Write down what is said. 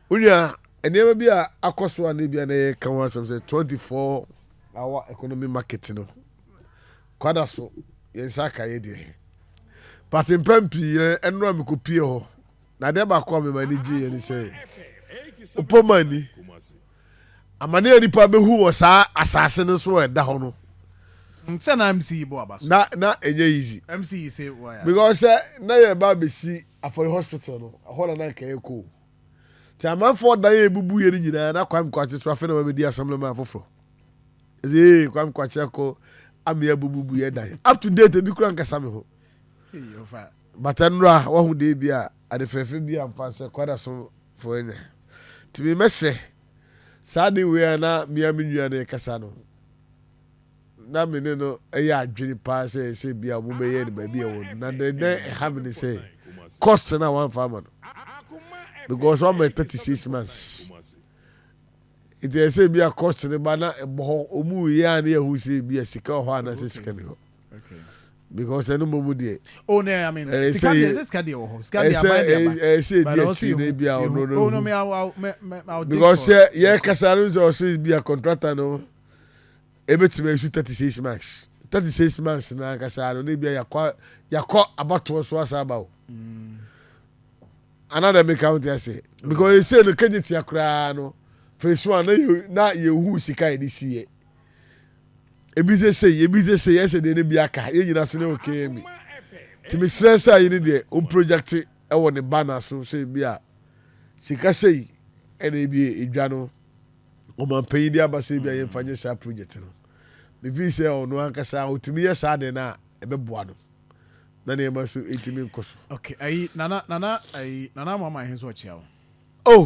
Wo nua, nneɛma bi a akɔ so a na ebia na yɛreka ho asɛm sɛ twenty four hour economy market no, kwada so, yɛn nsa aka yɛ deɛ. But mpɛn pii no, ɛno a mekɔpie hɔ, na adeɛ baako a mema ani gyeeɛ ne sɛ, Opomani, Amane a nnipa behu wɔ saa asase no so a ɛda hɔ no. Sɛ na MC yi bɔ aba so. Na na ɛnyɛ easy. MC yi se wayare. Because sɛ na yɛreba abɛsi Afɔri Hospital no, ɛhɔ na na anka yɛrekɔ o. Nti amanfoɔ dan a ebubuiɛ no nyinaa, na Kwame Kwakye nso afei na wabɛdi Assemblyman foforɔ. Ɛsɛ ee, Kwame Kwakye akɔ amea abubuiɛ dan. Up to date, ebi koraa nkasa me ho. But ɛnnora, wahu dee bi a, adefɛɛfɛ bi a mfa nsɛ, kɔ da so foɔ nyɛ. Nti me mɛhyɛ saa ade wei a na me ara me nua no rekasa no, na me ne no yɛ adwene paa sɛ ɛsɛ bi a wɔbɛyɛ no baabi a ɛwɔ no. Na deɛ na ɛha me ne sɛ, cost no a wɔamfa ama no. Because wɔama yɛ 36 months. Nti ɛsɛ bi a cost no ba na ɛbɔ hɔ, wɔn yɛ a na yɛhu sɛ bi a sika wɔ hɔ anaasɛ sika ni hɔ. because ɛno mmɔ mu deɛ oh no i mean eh, sika deɛ sɛ sika deɛ wɔ hɔ sika deɛ aban deɛ aban ɛsɛ ɛdi akyiri na ebi a ɔno no oh no me aw me me aw because sɛ yɛ kasa no sɛ ɔsɛ bi a contractor no ebetumi asu thirty six marks thirty six months na ankasa no na ebi a yakɔ yakɔ abatoɔ so asa aba o mm. another make count ase because ese no kegye tia koraa no phase one na yɛ na yɛ hu sika yɛ de si yɛ. ebi sɛ sei ebi sɛ sei ɛsɛ deɛ ne bi aka yɛn nyinaa so ne okay yɛn bi nti mesrɛ sɛ ayi ne deɛ o project ɛwɔ ne ba na so sɛ bi a sika sei ɛna ebi edwa no ɔmanpanyin de aba sɛ bi a yɛn fa nyɛ saa project no mefi sɛ ɔno ankasa otumi yɛ saa deɛ na ɛbɛboa no na nneɛma so etimi nkɔ so. okay ayi nana nana ayi nana ama ama ahenso ɔkyea o. oh